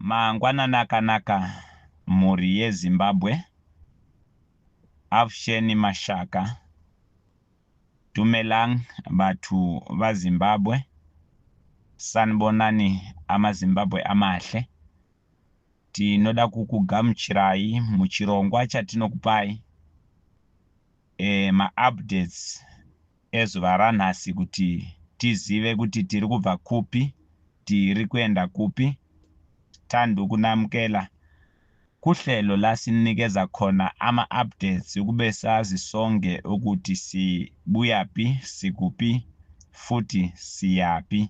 Mangwanani akanaka mhuri ye Zimbabwe Avsheni Mashaka Dumelang bathu va Zimbabwe Sanibonani ama Zimbabwe amahle Tinoda kukugamuchirai muchirongwa chatinokupai e, maupdates ezuva ranhasi kuti tizive kuti tiri kubva kupi tiri kuenda kupi tandi ukunamukela kuhlelo lasininikeza khona ama-updates ukube sazi sonke ukuthi sibuyapi sikupi futhi siyapi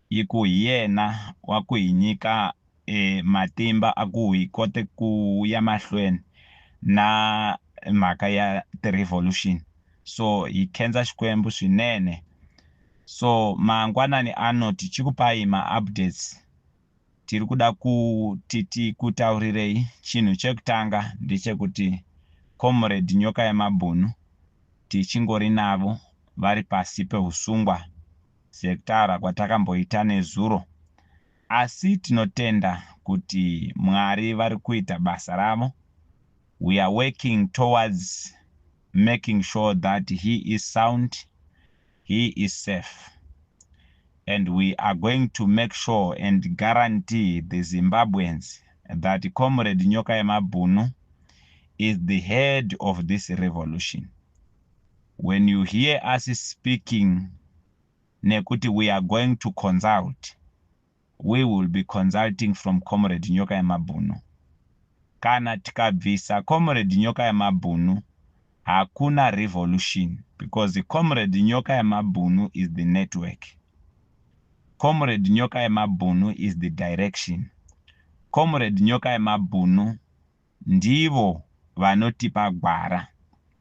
Ikuhiyena wakuhinyika e matimba akuhi kote kuya mahlweni na mhaka ya ti revolution so hi khenza Xikwembu swinene so mangwanani ano tichikupai ma updates tiri kuda kuti tikutaurireyi chinhu chekutanga ndechekuti Comrade Nyoka ya Mabhunu tichingorinavo vari pasi pehusungwa sekutaura kwatakamboita nezuro asi tinotenda kuti Mwari vari kuita basa ravo we are working towards making sure that he is sound he is safe and we are going to make sure and guarantee the Zimbabweans that Comrade Nyoka Yemabhunu is the head of this revolution. When you hear us speaking nekuti we are going to consult, we will be consulting from Comrade Nyoka Yemabhunu. Kana tikabvisa Comrade Nyoka Yemabhunu, hakuna revolution because Comrade Nyoka Yemabhunu is the network. Comrade Nyoka Yemabhunu is the direction. Comrade Nyoka Yemabhunu ndivo vanotipa gwara.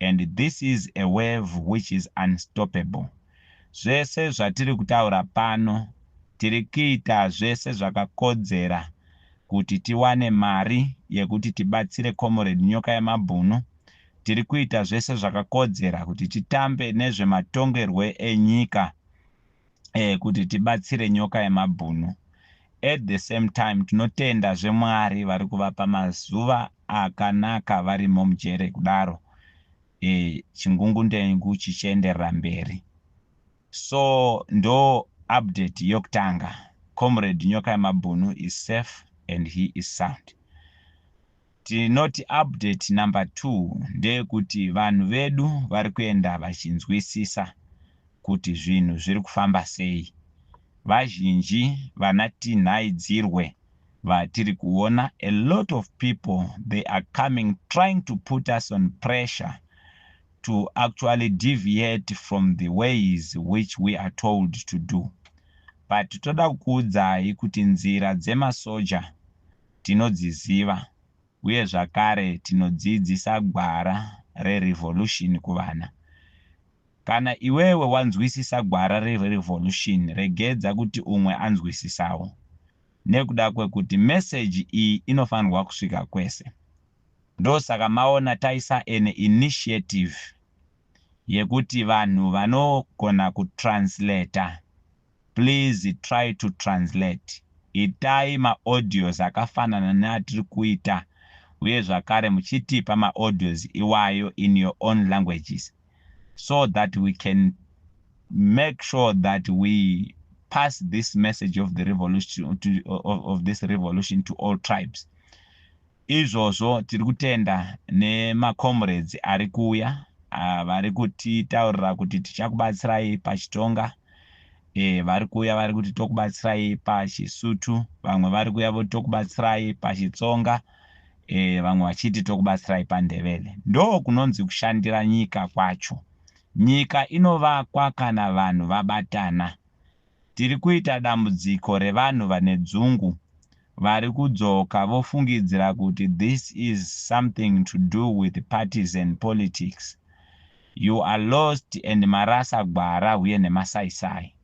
and this is a wave which is unstoppable. Zvese zvatiri kutaura pano tiri kuita zvese zvakakodzera kuti tiwane mari yekuti tibatsire Comrade Nyoka Yemabhunu, tiri kuita zvese zvakakodzera kuti titambe nezvematongerwe enyika. eh, kuti tibatsire nyoka yemabhunu at the same time tinotenda zvemwari vari kuvapa mazuva akanaka varimo mujere kudaro eh, chingungundengu chichienderera mberi so ndo update yokutanga comrade nyoka yemabhunu is safe and he is sound Tinoti update number two ndeyekuti vanhu vedu vari kuenda vachinzwisisa kuti zvinhu zviri kufamba sei. Vazhinji vana Tinhai Dzirwe vatiri kuona a lot of people they are coming trying to put us on pressure to actually deviate from the ways which we are told to do but toda kukuudzai kuti nzira dzemasoja tinodziziva uye zvakare tinodzidzisa gwara reRevolution kuvana. Kana iwewe wanzwisisa gwara reRevolution regedza kuti umwe anzwisisawo nekuda kwekuti message iyi inofanirwa kusvika kwese. Ndosaka maona taisa an initiative yekuti vanhu vanogona kutranslater. please try to translate itai ma audios akafanana neatiri kuita uye zvakare muchitipa ma audios iwayo in your own languages so that we can make sure that we pass this message of the revolution to, of, of this revolution to all tribes Izvozvo tiri kutenda nemacomrades ari kuuya vari kutitaurira kuti tichakubatsirai paChitonga, vari kuuya vari kuti tokubatsirai paChisutu, vamwe vari kuuya voti tokubatsirai paChitsonga, vamwe vachiti tokubatsirai paNdevele. Ndokunonzi kushandira nyika kwacho. Nyika inovakwa kana vanhu vabatana. Tiri kuita dambudziko revanhu vane dzungu vari kudzoka vofungidzira kuti this is something to do with partisan politics. You are lost and marasa gwara huye nemasaisai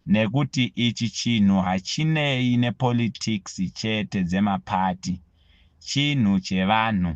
nekuti ichi chinhu hachinei nepolitics chete dzemaparty, chinhu chevanhu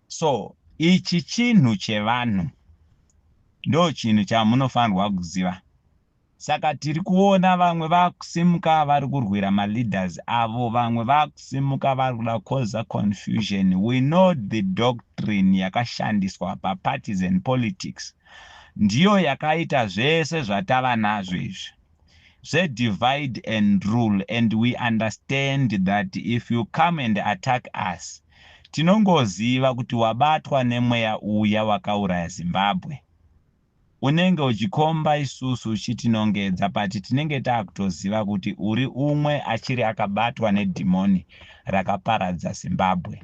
So ichi chinhu chevanhu ndochinhu chamunofanirwa kuziva. Saka tiri kuona vamwe vakusimuka vari kurwira maleaders avo, vamwe vakusimuka vari kuda kukoza confusion. We know the doctrine yakashandiswa papartisan politics ndiyo yakaita zvese zvatava nazvo izvi. zve divide and rule and we understand that if you come and attack us tinongoziva kuti wabatwa nemweya uya wakauraya zimbabwe unenge uchikomba isusu uchitinongedza but tinenge taakutoziva kuti uri umwe achiri akabatwa nedhimoni rakaparadza zimbabwe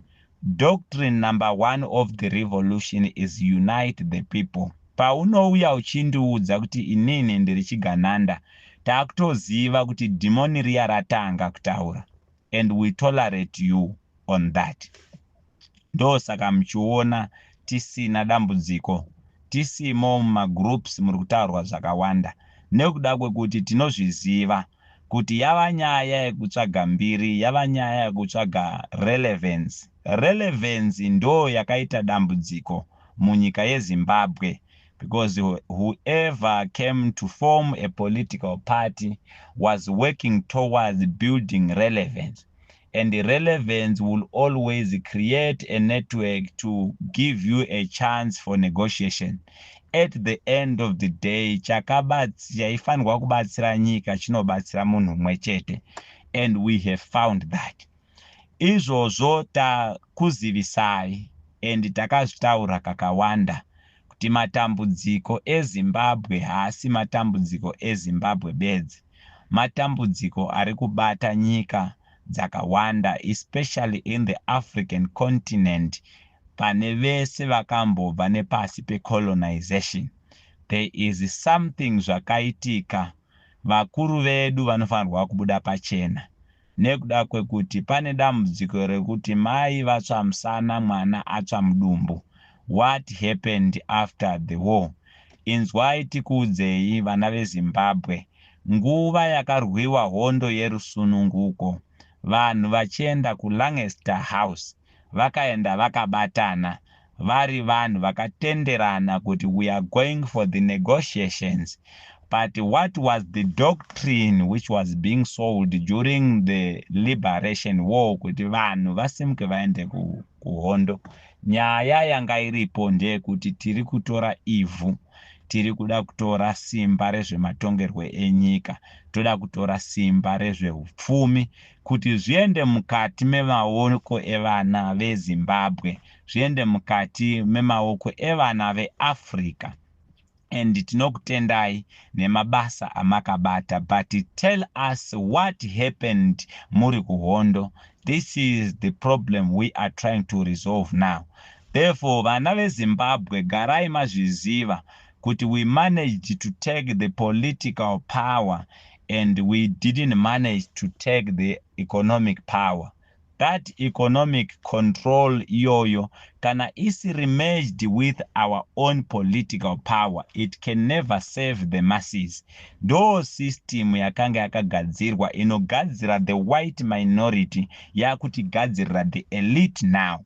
Doctrine number one of the revolution is unite the people. Paunouya uchindiudza kuti inini ndiri chigananda takutoziva kuti dhimoni riya ratanga kutaura and we tolerate you on that. Ndosaka muchiona tisina dambudziko tisimo mumagroups muri kutaurwa zvakawanda nekuda kwekuti tinozviziva kuti yava nyaya yekutsvaga mbiri yava nyaya yekutsvaga relevance. Relevance ndoo yakaita dambudziko munyika yeZimbabwe because whoever came to form a political party was working towards building relevance. and relevance will always create a network to give you a chance for negotiation at the end of the day chaifanirwa kubatsira nyika chinobatsira munhu umwe chete and we have found that izvozvo takuzivisai and takazvitaura kakawanda kuti matambudziko eZimbabwe haasi matambudziko eZimbabwe bedzi, matambudziko ari kubata nyika dzakawanda especially in the African continent pane vese vakambobva nepasi pecolonization. There is something zvakaitika, vakuru vedu vanofanirwa kubuda pachena. nekuda kwekuti pane dambudziko rekuti mai vatsva musana mwana atsva mudumbu what happened after the war inzwai tikuudzei vana vezimbabwe nguva yakarwiwa hondo yerusununguko vanhu vachienda kulangester house vakaenda vakabatana vari vanhu vakatenderana kuti we are going for the negotiations but what was the doctrine which was being sold during the liberation war kuti vanhu vasimuke vaende kuhondo nyaya yanga iripo ndeyekuti tiri kutora ivhu tiri kuda kutora simba rezvematongerwo enyika toda kutora simba rezveupfumi kuti zviende mukati memaoko evana vezimbabwe zviende mukati memaoko evana veAfrica and tinokutendai nemabasa amakabata but tell us what happened muri kuhondo this is the problem we are trying to resolve now therefore vana vezimbabwe garai mazviziva kuti we managed to take the political power and we didn't manage to take the economic power That economic control iyoyo kana isiri merged with our own political power it can never serve the masses. Ndoo system yakanga yakagadzirwa inogadzira the white minority yakutigadzirira the elite now.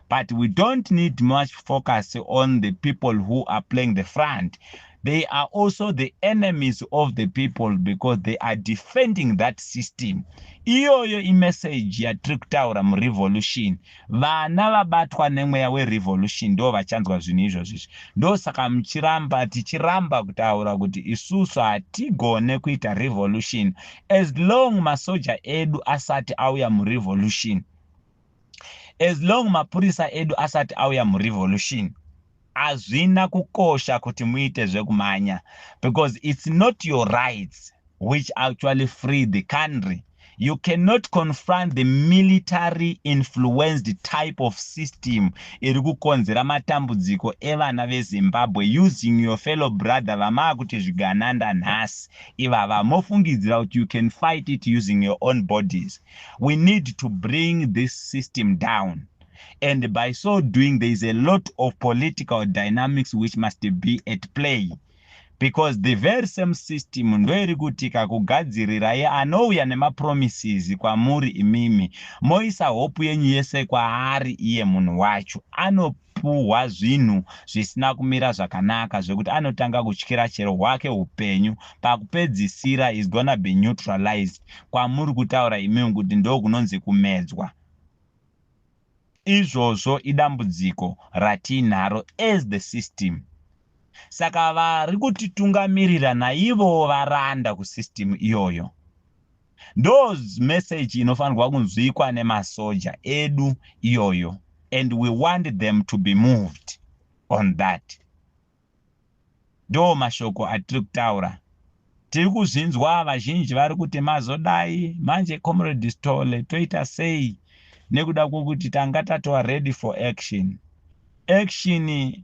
But we don't need much focus on the people who are playing the front. They are also the enemies of the people because they are defending that system. Iyoyo imessage yatiri kutaura murevolution. Vana vabatwa nemweya werevolution ndo vachanzwa zvinhu izvozvo izvi. Ndosaka muchiramba tichiramba kutaura kuti isusu hatigone kuita revolution as long masoja edu asati auya murevolution. as long mapurisa edu asati auya murevolution hazvina kukosha kuti muite zvekumanya because it's not your rights which actually free the country you cannot confront the military influenced type of system iri kukonzera matambudziko evana vezimbabwe using your fellow brother vamaa kuti zvigananda nhasi ivava mofungidzira kuti you can fight it using your own bodies we need to bring this system down and by so doing there is a lot of political dynamics which must be at play because the very same system ndoiri kuti kakugadzirirai anouya nemapromises kwamuri imimi moisa hope yenyu yese kwaari iye munhu wacho anopa puhwa zvinhu zvisina kumira zvakanaka zvekuti anotanga kutyira chero hwake hupenyu pakupedzisira he's gonna be neutralized kwamuri kutaura imimi kuti ndokunonzi kumedzwa izvozvo idambudziko ratiinaro as the system saka vari kutitungamirira naivowo varanda kusystem iyoyo Ndo message inofanirwa kunzwikwa nemasoja edu iyoyo and we want them to be moved on that. Ndo mashoko atiri kutaura. Tiri kuzvinzwa vazhinji vari kuti mazodai manje Comrade Sithole toita sei nekuda kwokuti tanga tatova ready for action. Action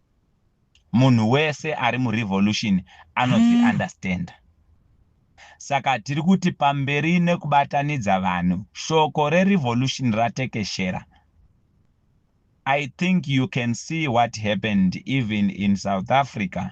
munhu wese ari murevolution anozvi hmm. understanda saka tiri kuti pamberi nekubatanidza vanhu shoko rerevolution ratekeshera i think you can see what happened even in south africa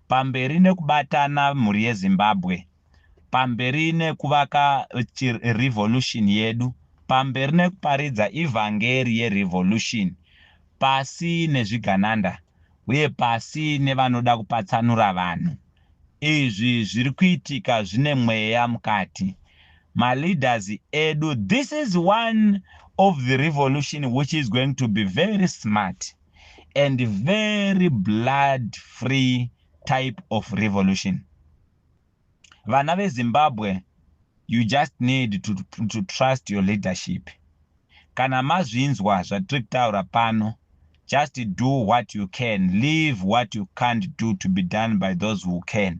Pamberi nekubatana mhuri yeZimbabwe. Pamberi nekuvaka revolution yedu. Pamberi nekuparidza evhangeri yerevolution pasi nezvigananda uye pasi nevanoda kupatsanura vanhu. Izvi zviri kuitika zvine mweya mukati. Maleaders edu this is one of the revolution which is going to be very smart. and very blood free type of revolution vana vezimbabwe you just need to, to trust your leadership kana mazvinzwa zvatiri kutaura pano just do what you can leave what you can't do to be done by those who can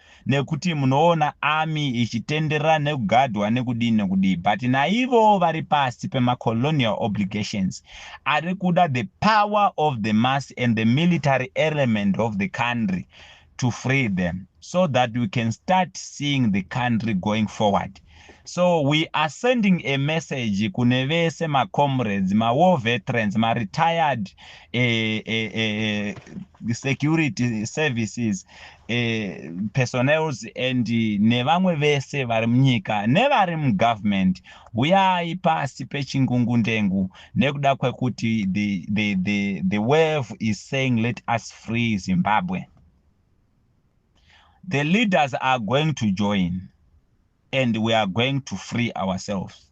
nekuti munoona army ichitenderera nekugadwa nekudii nekudii but naivowo vari pasi pemacolonial obligations ari kuda the power of the mass and the military element of the country to free them so that we can start seeing the country going forward so we are sending a message kune vese macomrades mawar veterans maretired eh, eh, eh, security services eh, personals and nevamwe vese vari munyika nevari mugovernment huyai pasi pechingungu ndengu nekuda kwekuti the, the, the, the wave is saying let us free zimbabwe the leaders are going to join and we are going to free ourselves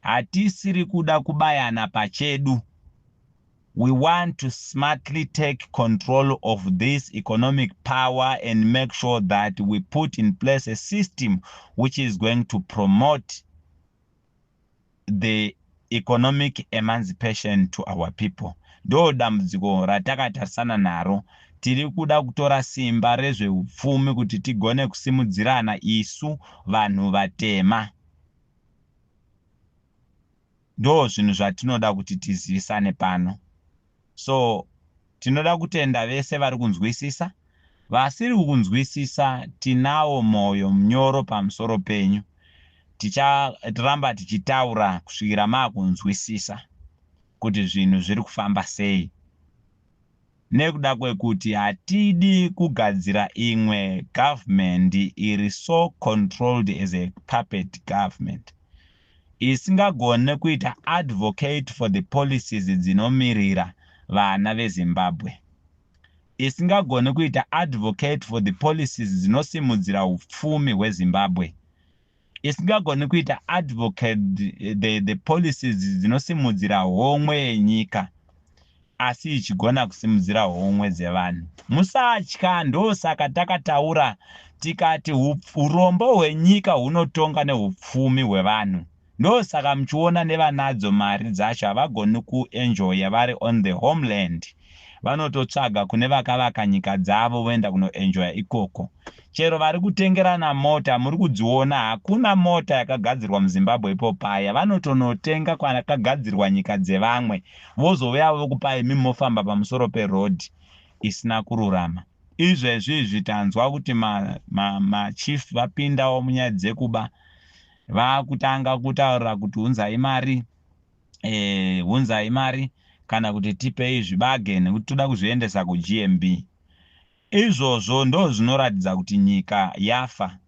Hatisiri kuda kubayana pachedu, we want to smartly take control of this economic power and make sure that we put in place a system which is going to promote the economic emancipation to our people. Ndoo dambudziko ratakatarisana naro. Tiri kuda kutora simba rezveupfumi kuti tigone kusimudzirana isu vanhu vatema. Ndoo zvinhu zvatinoda kuti tizivisane pano. So tinoda kutenda vese vari kunzwisisa. Vasiri kukunzwisisa tinawo moyo mnyoro pamusoro penyu. Ticharamba tichitaura kusvikira makunzwisisa kuti zvinhu zviri kufamba sei. Nekuda kwekuti hatidi kugadzira imwe government iri so controlled as a puppet government isingagone kuita advocate for the policies dzinomirira vana veZimbabwe, isingagone kuita advocate for the policies dzinosimudzira hupfumi hweZimbabwe, isingagoni kuita advocate the, the policies dzinosimudzira homwe yenyika asi ichigona kusimudzira homwe dzevanhu musatya ndosaka takataura tikati urombo hwenyika hunotonga neupfumi hwevanhu ndosaka muchiona nevanadzo mari dzacho havagoni kuenjoya vari on the homeland vanototsvaga kune vakavaka nyika dzavo voenda kunoenjoya ikoko. Chero vari kutengerana mota muri kudziona hakuna mota yakagadzirwa muZimbabwe ipo paya vanotonotenga kwakagadzirwa nyika dzevamwe vozouya vokupai imi mofamba pamusoro peroad isina kururama. Izvezvi izvi tanzwa kuti ma, ma, ma chief vapindawo munyaya dzekuba vakutanga kutaurira kuti unzai mari eh, hunzai mari kana kuti tipei zvibage nekuti toda kuzviendesa kuGMB. Izvozvo ndozvinoratidza kuti nyika yafa.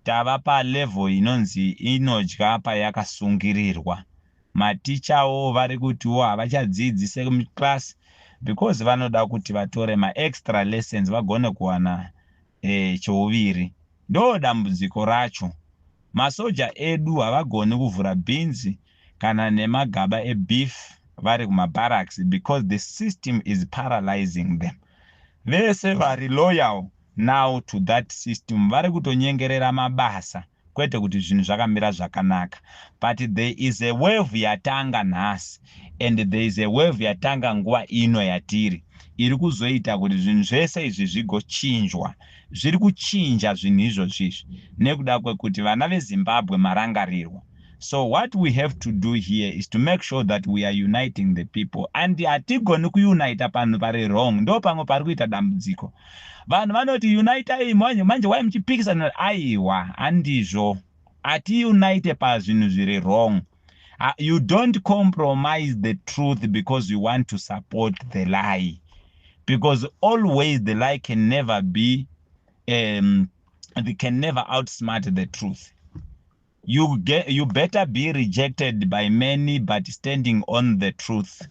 Tava palevel inonzi inodya payakasungirirwa. Matichawo vari kutiwo havachadzidzi seclass because vanoda kuti vatore maextra lessons vagone kuwana eh, chouviri ndo dambudziko racho masoja edu havagoni kuvhura beans kana nemagaba ebeef vari kumabarracks because the system is paralyzing them vese vari loyal now to that system vari kutonyengerera mabasa kwete kuti zvinhu zvakamira zvakanaka but there is a wave yatanga nhasi and there is a wave yatanga nguva ino yatiri iri kuzoita kuti zvinhu zvese izvi zvigochinjwa zviri kuchinja zvinhu izvozvi izvi nekuda kwekuti vana vezimbabwe marangarirwa so what we have to do here is to make sure that we are uniting the people and hatigoni kuunita panhu pari wrong ndo pamwe pari kuita dambudziko Vanhu vanoti unitai manje manje why muchipikisana aiwa handizvo ati unite pazvinhu zviri wrong uh, you don't compromise the truth because you want to support the lie because always the lie can never be um, they can never outsmart the truth You, get, you better be rejected by many but standing on the truth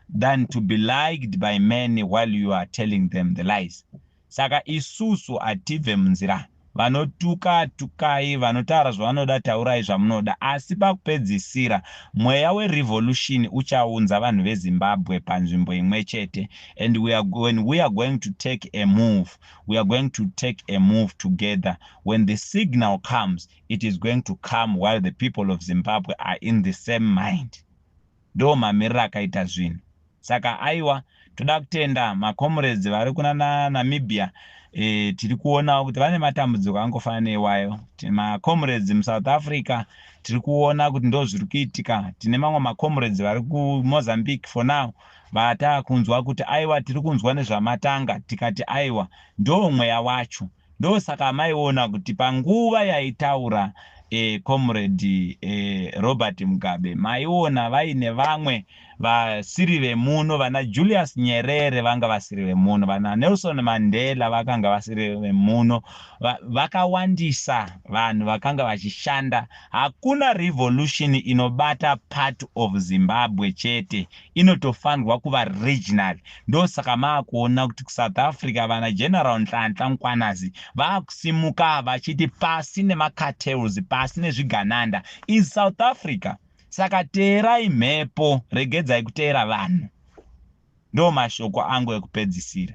than to be liked by many while you are telling them the lies saka isusu hatibve munzira vanotuka tukai vanotaura zvavanoda taurai zvamunoda asi pakupedzisira mweya werevolution uchaunza vanhu vezimbabwe panzvimbo imwe chete and we are, when we are going to take a move we are going to take a move together when the signal comes it is going to come while the people of zimbabwe are in the same mind ndo mamiriro akaita zvinhu saka aiwa toda kutenda macomrades vari kuna namibia e, tiri kuonawo kuti vane matambudziko angofanana neiwayo macomrades musouth africa tiri kuona kuti ndo zviri kuitika tine mamwe macomrades vari kumozambique for now vatakunzwa kuti aiwa tiri kunzwa nezvamatanga tikati aiwa ndo mweya wacho Ndosaka amaiona kuti panguva yaitaura eh, comrade eh, Robert Mugabe maiona vaine vamwe vasiri vemuno vana Julius Nyerere vanga vasiri vemuno vana Nelson Mandela vakanga vasiri vemuno Va, vakawandisa vanhu vakanga vachishanda hakuna revolution inobata part of Zimbabwe chete inotofanirwa kuva regional ndosaka maakuona kuti kusouth africa vana general nhlantla mkwanazi vaakusimuka vachiti pasi nemacartels pasi nezvigananda is south africa saka teerai mhepo regedzai kuteera vanhu ndomashoko angu ekupedzisira